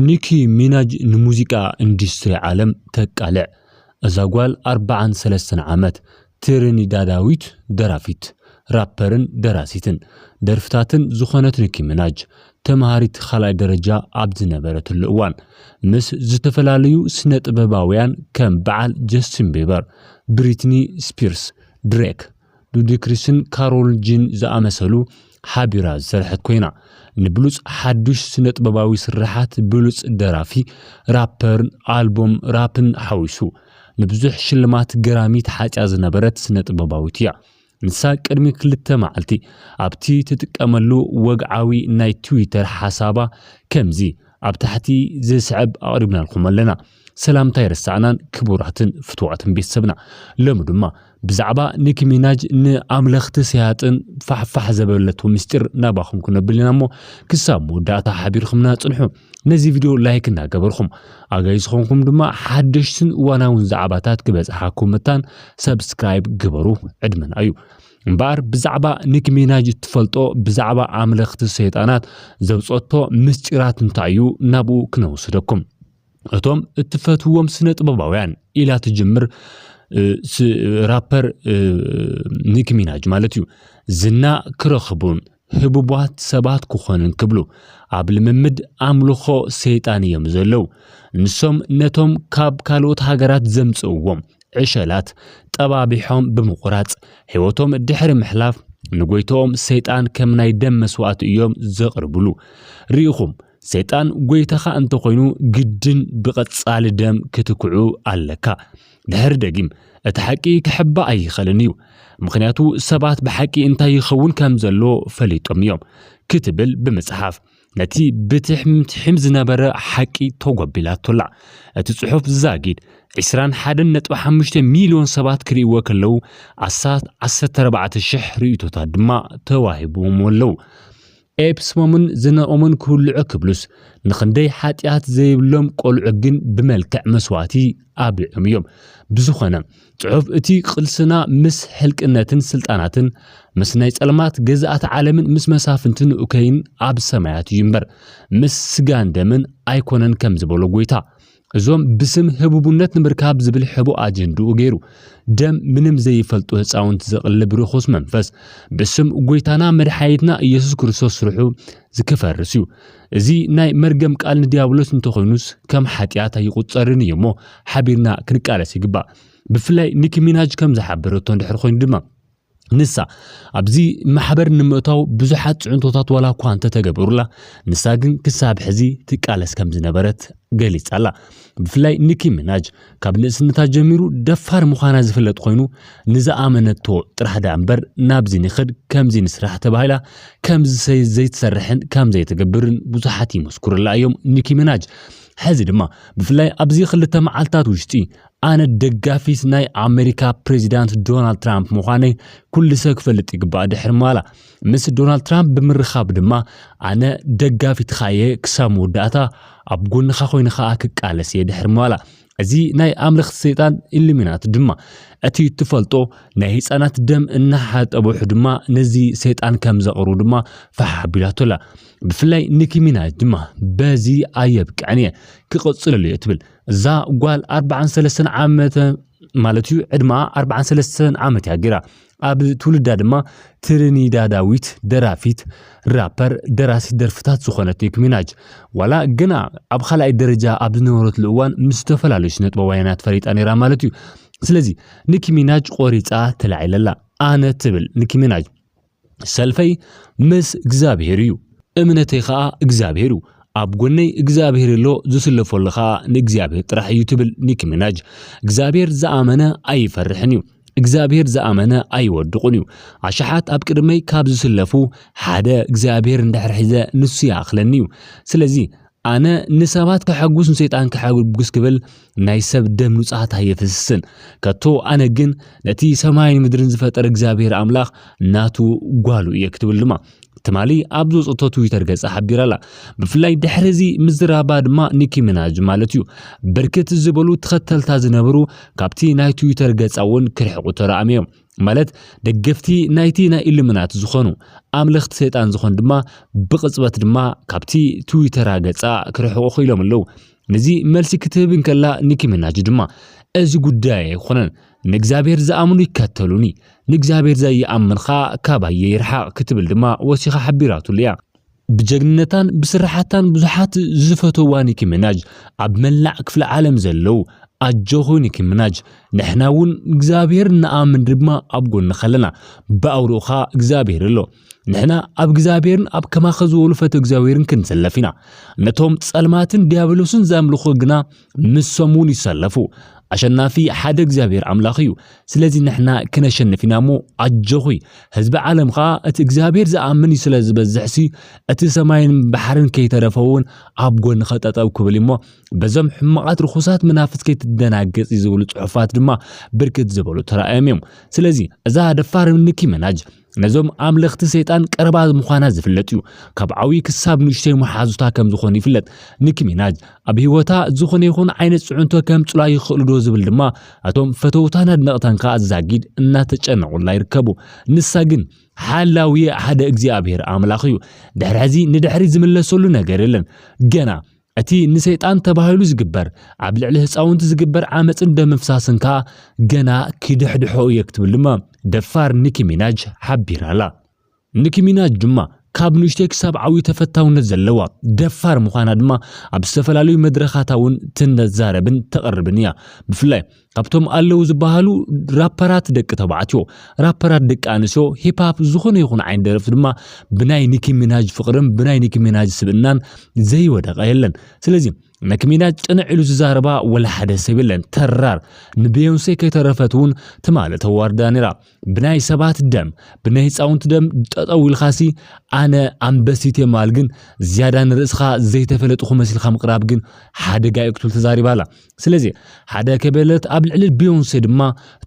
ኒኪ ሚናጅ ንሙዚቃ ኢንዱስትሪ ዓለም ተቃልዕ እዛ ጓል ኣርባዓን ሰለስተን ዓመት ትሪኒዳዳዊት ደራፊት፣ ራፐርን ደራሲትን ደርፍታትን ዝኾነት ኒኪ ሚናጅ ተምሃሪት ኻልኣይ ደረጃ ኣብ ዝነበረትሉ እዋን ምስ ዝተፈላለዩ ስነ-ጥበባውያን ከም በዓል ጀስቲን ቢበር፣ ብሪትኒ ስፒርስ፣ ድሬክ፣ ሉዲክሪስን ካሮል ጂን ዝኣመሰሉ ሓቢራ ዝሰርሐት ኮይና፣ ንብሉጽ ሓድሽ ስነጥበባዊ ስርሓት፣ ብሉጽ ደራፊ፣ ራፐርን ኣልቦም ራፕን ሓዊሱ፣ ንብዙሕ ሽልማት ገራሚ ተሓጽያ ዝነበረት ስነጥበባዊት እያ። ንሳ ቅድሚ ክልተ መዓልቲ ኣብቲ ትጥቀመሉ ወግዓዊ ናይ ትዊተር ሓሳባ ከምዚ ኣብ ታሕቲ ዝስዕብ ኣቕሪብናልኩም ኣለና። ሰላምታ ኣይረሳዕናን ክቡራትን ፍትዋትን ቤተሰብና ሎሚ ድማ ብዛዕባ ኒኪ ሚናጅ ንኣምለኽቲ ሰያጥን ፋሕፋሕ ዘበለቶ ምስጢር ናባኹም ክነብል ኢና እሞ ክሳብ መወዳእታ ሓቢርኩምና ጽንሑ ነዚ ቪድዮ ላይክ እናገበርኩም ኣጋይ ዝኾንኩም ድማ ሓደሽትን እዋናውን ዛዕባታት ክበጽሓኩም መታን ሰብስክራይብ ግበሩ ዕድመና እዩ እምበኣር ብዛዕባ ኒክ ሚናጅ እትፈልጦ ብዛዕባ ኣምለኽቲ ሰይጣናት ዘውፀቶ ምስጢራት እንታይ እዩ ናብኡ ክነውስደኩም እቶም እትፈትዎም ስነ ጥበባውያን ኢላ ትጅምር ራፐር ኒክ ሚናጅ ማለት እዩ ዝና ክረኽቡን ህቡባት ሰባት ክኾኑን ክብሉ ኣብ ልምምድ ኣምልኾ ሰይጣን እዮም ዘለዉ ንሶም ነቶም ካብ ካልኦት ሃገራት ዘምጽእዎም ዕሸላት ጠባቢሖም ብምቑራጽ ሕይወቶም ድሕሪ ምሕላፍ ንጐይታኦም ሰይጣን ከም ናይ ደም መስዋእቲ እዮም ዘቕርብሉ ርኢኹም ሰይጣን ጎይታኻ እንተኾይኑ ግድን ብቐጻሊ ደም ክትክዑ ኣለካ። ድሕሪ ደጊም እቲ ሓቂ ክሕባእ ኣይኸልን እዩ፣ ምኽንያቱ ሰባት ብሓቂ እንታይ ይኸውን ከም ዘሎ ፈሊጦም እዮም ክትብል ብምጽሓፍ ነቲ ብትሕም ትሕም ዝነበረ ሓቂ ተጎቢላቶላ። እቲ ጽሑፍ ዛጊድ ዕስራን ሓደን ነጥቢ ሓሙሽተ ሚልዮን ሰባት ክርእይዎ ከለዉ ኣስታት ዓሰርተ ኣርባዕተ ሽሕ ርእይቶታት ድማ ተዋሂብዎም ኣለዉ። ኤፕስሞምን ዝነቐሙን ክውልዑ ክብሉስ፣ ንኽንደይ ሓጢኣት ዘይብሎም ቈልዑ ግን ብመልክዕ መስዋእቲ ኣብሊዖም እዮም። ብዝኾነ፣ ጽሑፍ እቲ ቕልስና ምስ ሕልቅነትን ስልጣናትን፣ ምስ ናይ ጸልማት ገዛእቲ ዓለምን ምስ መሳፍንትን እከይን ኣብ ሰማያት እዩ እምበር፣ ምስ ስጋን ደምን ኣይኰነን ከም ዝበሎ ጐይታ፣ እዞም ብስም ህቡቡነት ንምርካብ ዝብል ሕቡእ ኣጀንድኡ ገይሩ ደም ምንም ዘይፈልጡ ህፃውንቲ ዘቕልብ ርኹስ መንፈስ ብስም ጎይታና መድሓኒትና እየሱስ ክርስቶስ ስርሑ ዝክፈርስ እዩ። እዚ ናይ መርገም ቃል ንዲያብሎስ እንተኾይኑስ ከም ሓጢኣት ኣይቑፀርን እዩ እሞ ሓቢርና ክንቃለስ ይግባእ። ብፍላይ ኒኪ ሚናጅ ከም ዝሓበረቶ እንድሕር ኾይኑ ድማ ንሳ ኣብዚ ማሕበር ንምእታው ብዙሓት ፅዕንቶታት ዋላ እኳ እንተተገበሩላ ንሳ ግን ክሳብ ሕዚ ትቃለስ ከም ዝነበረት ገሊፃላ። ብፍላይ ኒኪ ሚናጅ ካብ ንእስነታ ጀሚሩ ደፋር ምዃና ዝፍለጥ ኮይኑ ንዝኣመነቶ ጥራሕ ድኣ እምበር ናብዚ ንኽድ ከምዚ ንስራሕ ተባሂላ ከም ዝሰይ ዘይትሰርሕን ከም ዘይትገብርን ብዙሓት ይመስክሩላ እዮም ኒኪ ሚናጅ ሕዚ ድማ ብፍላይ ኣብዚ ክልተ መዓልትታት ውሽጢ ኣነ ደጋፊት ናይ ኣሜሪካ ፕሬዚዳንት ዶናልድ ትራምፕ ምዃነይ ኩሉ ሰብ ክፈልጥ ይግባእ ድሕሪ ማላ ምስ ዶናልድ ትራምፕ ብምርኻብ ድማ ኣነ ደጋፊትኻ እየ ክሳብ መወዳእታ ኣብ ጎንኻ ኮይኑ ከዓ ክቃለስ እየ ድሕሪ ማላ እዚ ናይ ኣምለኽቲ ሰይጣን ኢሉሚናት ድማ እቲ እትፈልጦ ናይ ህፃናት ደም እናሓጠበሑ ድማ ነዚ ሰይጣን ከም ዘቕርቡ ድማ ፋሕ ኣቢላቶ ኣላ ብፍላይ ኒኪ ሚናጅ ድማ በዚ ኣየብቅዕን እየ ክቕፅለሉ እየ ትብል እዛ ጓል ኣርባዓን ሰለስተን ዓመተ ማለት እዩ ዕድመኣ ኣርባዓን ሰለስተን ዓመት እያ ገይራ ኣብ ትውልዳ ድማ ትሪኒዳዳዊት ደራፊት ራፐር ደራሲት ደርፍታት ዝኾነት ኒክ ሚናጅ ዋላ ግና ኣብ ካልኣይ ደረጃ ኣብ ዝነበረትሉ እዋን ምስ ዝተፈላለዩ ስነ ጥበባውያናት ፈሊጣ ነይራ ማለት እዩ ስለዚ ኒክ ሚናጅ ቆሪፃ ተላዒለላ ኣነ ትብል ኒክ ሚናጅ ሰልፈይ ምስ እግዚኣብሄር እዩ፣ እምነተይ ኸኣ እግዚኣብሄር እዩ፣ ኣብ ጎነይ እግዚኣብሄር ኣሎ፣ ዝስለፈሉ ኸኣ ንእግዚኣብሄር ጥራሕ እዩ ትብል ኒኪ ሚናጅ። እግዚኣብሄር ዝኣመነ ኣይፈርሕን እዩ፣ እግዚኣብሄር ዝኣመነ ኣይወድቑን እዩ፣ ኣሽሓት ኣብ ቅድመይ ካብ ዝስለፉ ሓደ እግዚኣብሄር እንድሕር ሒዘ ንሱ ይኣኽለኒ እዩ፣ ስለዚ ኣነ ንሰባት ከሐጉስ ንሰይጣን ከሐጉስ ክብል ናይ ሰብ ደም ንጹሃት ኣየፍስስን። ከቶ ኣነ ግን ነቲ ሰማይን ምድርን ዝፈጠረ እግዚኣብሔር ኣምላኽ ናቱ ጓሉ እየ ክትብል ድማ ትማሊ ኣብ ዘውጽእቶ ትዊተር ገጻ ሓቢራ ኣላ። ብፍላይ ድሕሪ እዚ ምዝራባ ድማ ኒኪ ሚናጅ ማለት እዩ ብርክት ዝበሉ ተኸተልታ ዝነበሩ ካብቲ ናይ ትዊተር ገጻ እውን ክርሕቁ ተራእዮም እዮም። ማለት ደገፍቲ ናይቲ ናይ ኢሉሚናት ዝኾኑ ኣምለኽቲ ሰይጣን ዝኾኑ ድማ ብቕጽበት ድማ ካብቲ ትዊተራ ገጻ ክርሕቑ ክኢሎም ኣለዉ። ነዚ መልሲ ክትህብ እንከላ ኒኪ ሚናጅ ድማ እዚ ጉዳይ ኣይኮነን ንእግዚኣብሔር ዝኣምኑ ይከተሉኒ ንእግዚኣብሔር ዘይኣምን ኸኣ ካባየ ይርሓቕ ክትብል ድማ ወሲኻ ሓቢራትሉ እያ። ብጀግንነታን ብስራሓታን ብዙሓት ዝፈተዋ ኒኪ ምናጅ ኣብ መላዕ ክፍለ ዓለም ዘለው ኣጆኺ ኒኪ ምናጅ ንሕና እውን እግዚኣብሔር ንኣምን ድማ ኣብ ጎንኺ ኣለና ብኣውርኡኻ እግዚኣብሔር ኣሎ ንሕና ኣብ እግዚኣብሔርን ኣብ ከማኸ ዝበሉ ፈተ እግዚኣብሔርን ክንሰለፍ ኢና ነቶም ጸልማትን ዲያብሎስን ዘምልኹ ግና ንሶም እውን ይሰለፉ። ኣሸናፊ ሓደ እግዚኣብሔር ኣምላኽ እዩ። ስለዚ ንሕና ክነሸንፍ ኢና እሞ ኣጆኺ። ህዝቢ ዓለም ኸኣ እቲ እግዚኣብሔር ዝኣምን ስለ ዝበዝሕሲ እቲ ሰማይን ባሕርን ከይተረፈ እውን ኣብ ጎንኸ ጠጠው ክብል እሞ በዞም ሕማቓት ርኹሳት መናፍስ ከይትደናገጺ ዝብሉ ጽሑፋት ድማ ብርክት ዝበሉ ተራእዮም እዮም። ስለዚ እዛ ደፋር ንኪ መናጅ ነዞም ኣምለኽቲ ሰይጣን ቀረባ ምዃና ዝፍለጥ እዩ። ካብ ዓብዪ ክሳብ ንእሽተይ መሓዙታ ከም ዝኾኑ ይፍለጥ። ኒኪ ሚናጅ ኣብ ህይወታ ዝኾነ ይኹን ዓይነት ፅዕንቶ ከምፅኡላ ይኽእሉ ዶ ዝብል ድማ እቶም ፈተውታን ኣድነቕታን ከዓ ዛጊድ እናተጨነቑላ ይርከቡ። ንሳ ግን ሓላዊ ሓደ እግዚኣብሔር ኣምላኽ እዩ። ድሕሪ ሕዚ ንድሕሪ ዝምለሰሉ ነገር የለን። ገና እቲ ንሰይጣን ተባሂሉ ዝግበር ኣብ ልዕሊ ህፃውንቲ ዝግበር ዓመፅን ደም ምፍሳስን ከዓ ገና ኪድሕድሖ እየ ክትብል ድማ ደፋር ኒኪ ሚናጅ ሓቢራ ኣላ። ኒኪ ሚናጅ ድማ ካብ ንእሽተይ ክሳብ ዓብዩ ተፈታውነት ዘለዋ ደፋር ምዃና ድማ ኣብ ዝተፈላለዩ መድረኻታ እውን ትነዛረብን ተቕርብን እያ። ብፍላይ ካብቶም ኣለው ዝበሃሉ ራፐራት ደቂ ተባዕትዮ፣ ራፐራት ደቂ ኣንስዮ፣ ሂፕ-ሃፕ ዝኾነ ይኹን ዓይነት ደረፍቲ ድማ ብናይ ኒኪ ሚናጅ ፍቕርን ብናይ ኒኪ ሚናጅ ስብእናን ዘይወደቐ የለን። ስለዚ ኒኪ ሚናጅ ቅንዕ ኢሉ ዝዛረባ ወላ ሓደ ሰብ የለን። ተራር ንቤዮንሴ ከይተረፈት እውን ትማሊ ተዋርዳ ነይራ። ብናይ ሰባት ደም ብናይ ህፃውንቲ ደም ጠጠው ኢልኻሲ ኣነ ኣንበሲቴ ማል ግን ዝያዳ ንርእስኻ ዘይተፈለጥኹ መስልካ ምቕራብ ግን ሓደጋ እዩ ክትብል ተዛሪባ ኣላ ስለዚ ሓደ ከበለት ኣብ ልዕሊ ቢዮንሴ ድማ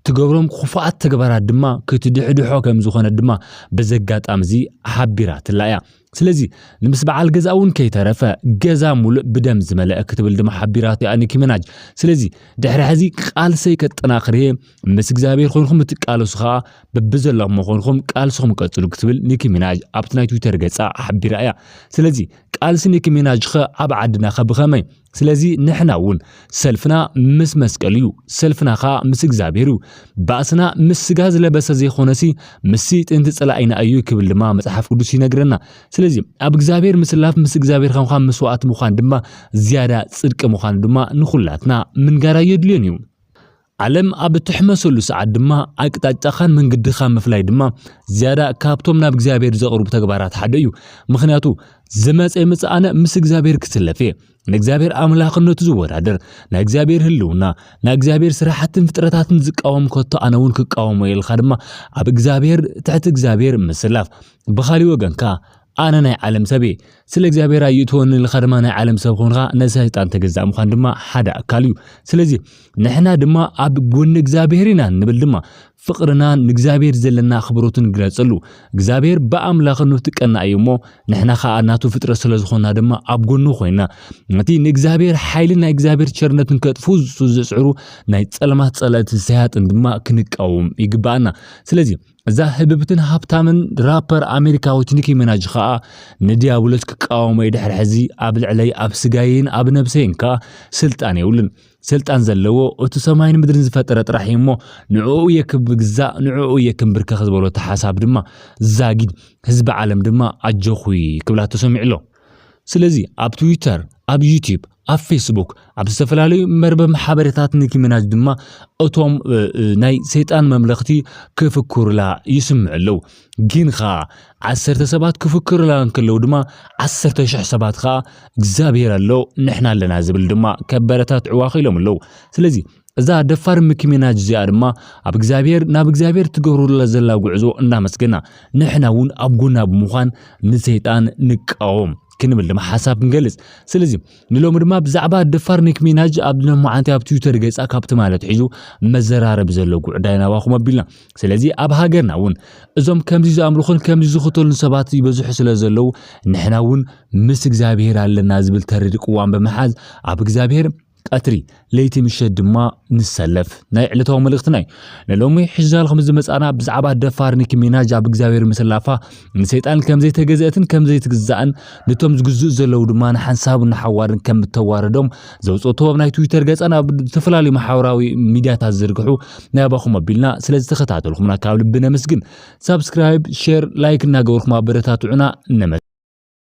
ትገብሮም ክፉኣት ተግባራት ድማ ክትድሕድሖ ከም ዝኾነ ድማ በዚ ኣጋጣሚ እዚ ሓቢራትላ እያ ስለዚ ንምስ በዓል ገዛ እውን ከይተረፈ ገዛ ሙሉእ ብደም ዝመለአ ክትብል ድማ ሓቢራት እያ ኒኪ መናጅ። ስለዚ ድሕሪ ሕዚ ቃልሰይ ከጠናኽር እየ ምስ እግዚኣብሔር ኮይንኩም እትቃለሱ ከዓ በብዘላኹሞ ኮይንኩም ቃልስኹም ቀፅሉ ክትብል ኒኪ ሚናጅ ኣብቲ ናይ ትዊተር ገፃ ሓቢራ እያ። ስለዚ ቃልሲ ኒኪ ሚናጅ ኸ ኣብ ዓድና ኸ ብኸመይ? ስለዚ ንሕና እውን ሰልፍና ምስ መስቀል እዩ፣ ሰልፍና ከኣ ምስ እግዚኣብሔር እዩ። ባእስና ምስ ስጋ ዝለበሰ ዘይኮነሲ ምስቲ ጥንቲ ጸላኢና እዩ ክብል ድማ መጽሓፍ ቅዱስ ይነግረና። ስለዚ ኣብ እግዚኣብሔር ምስላፍ ምስ እግዚኣብሔር ከምካ መስዋእቲ ምዃን ድማ ዝያዳ ጽድቂ ምዃኑ ድማ ንኹላትና ምንጋር ኣየድልዮን እዩ። ዓለም ኣብ እትሕመሰሉ ሰዓት ድማ ኣቅጣጫኻን መንገድኻን ምፍላይ ድማ ዝያዳ ካብቶም ናብ እግዚኣብሔር ዘቕርቡ ተግባራት ሓደ እዩ። ምክንያቱ ዝመፀ ይምፅ ኣነ ምስ እግዚኣብሔር ክስለፍ እየ። ንእግዚኣብሔር ኣምላኽነቱ ዝወዳደር ናይ እግዚኣብሔር ህልውና ናይ እግዚኣብሔር ስራሕትን ፍጥረታትን ዝቃወም ከቶ ኣነ እውን ክቃወሞ ኢልካ ድማ ኣብ እግዚኣብሔር ትሕቲ እግዚኣብሔር ምስላፍ ብኻሊእ ወገን ከዓ ኣነ ናይ ዓለም ሰብ እየ። ስለ እግዚኣብሔር ኣይእትወኒ ኢልካ ድማ ናይ ዓለም ሰብ ኾንካ ንሰይጣን ተገዛእ ምዃን ድማ ሓደ ኣካል እዩ። ስለዚ ንሕና ድማ ኣብ ጎኒ እግዚኣብሔር ኢና እንብል ድማ ፍቕርናን ንእግዚኣብሔር ዘለና ኣኽብሮትን ንግለጸሉ። እግዚኣብሔር ብኣምላኽኑ ትቀና እዩ እሞ ንሕና ከዓ ናቱ ፍጥረት ስለ ዝኾና ድማ ኣብ ጎኑ ኮይና ነቲ ንእግዚኣብሔር ሓይሊ ናይ እግዚኣብሔር ቸርነትን ከጥፉ ዝጽዕሩ ናይ ጸልማት ጸላእትን ሰያጥን ድማ ክንቃወም ይግባኣና። ስለዚ እዛ ህብብትን ሃብታምን ራፐር ኣሜሪካዊት ኒኪ ሚናጅ ከኣ ንዲያብሎስ ክቃወሞ'የ ድሕሪ ሕዚ ኣብ ልዕለይ ኣብ ስጋየይን ኣብ ነብሰይን ከኣ ስልጣን የብሉን ስልጣን ዘለዎ እቲ ሰማይን ምድርን ዝፈጠረ ጥራሕ እዩ እሞ ንዕኡ እየ ክግዛእ ንዕኡ እየ ክንብርከኽ ዝበሎ እቲ ሓሳብ ድማ ዛጊድ ህዝቢ ዓለም ድማ ኣጆኹ ክብላ ተሰሚዑ ኣሎ ስለዚ ኣብ ትዊተር፣ ኣብ ዩቲዩብ፣ ኣብ ፌስቡክ፣ ኣብ ዝተፈላለዩ መርበብ ሓበሬታት ንኪምናጅ ድማ እቶም ናይ ሰይጣን መምለኽቲ ክፍክሩላ ይስምዑ ኣለዉ። ግን ኸዓ ዓሰርተ ሰባት ክፍክሩላ እንከለዉ ድማ ዓሰርተ ሽሕ ሰባት ኸዓ እግዚኣብሔር ኣሎ ንሕና ኣለና ዝብል ድማ ከበረታትዕዋ ክኢሎም ኣለዉ። ስለዚ እዛ ደፋር ምኪ ሚናጅ እዚኣ ድማ ኣብ እግዚኣብሔር ናብ እግዚኣብሔር ትገብሩላ ዘላ ጉዕዞ እናመስገና ንሕና እውን ኣብ ጎና ብምዃን ንሰይጣን ንቃወም ክንብል ድማ ሓሳብ ክንገልጽ ስለዚ ንሎሚ ድማ ብዛዕባ ደፋር ኒክ ሚናጅ ኣብ ለማዓንቲ ኣብ ትዊተር ገጻ ካብ ትማል ኣትሒዙ መዘራረቢ ዘሎ ጉዕዳይ ናባኹም ኣቢልና ስለዚ ኣብ ሃገርና እውን እዞም ከምዚ ዝኣምልኹን ከምዚ ዝኽተሉን ሰባት ይበዝሑ ስለ ዘለዉ ንሕና እውን ምስ እግዚኣብሄር ኣለና ዝብል ተሪር ቅዋም ብምሓዝ ኣብ እግዚኣብሄር ቀትሪ ለይቲ ምሸት ድማ ንሰለፍ ናይ ዕለታዊ መልእኽትና እዩ ንሎሚ ሕጃል ከም ዝመፃና ብዛዕባ ደፋር ኒኪ ሚናጅ ኣብ እግዚኣብሔር ምስላፋ ንሰይጣን ከም ዘይተገዘአትን ከም ዘይትግዛእን ነቶም ዝግዝኡ ዘለዉ ድማ ንሓንሳብ ንሓዋርን ከም እተዋረዶም ዘውፅኦቶ ኣብ ናይ ትዊተር ገፀን ኣብ ዝተፈላለዩ ማሕበራዊ ሚዲያታት ዝርግሑ ናይ ኣባኹም ኣቢልና ስለ ዝተኸታተልኩምና ካብ ልቢ ነመስግን ሳብስክራይብ ሼር ላይክ እናገበርኩም ኣበረታትዑና ነመ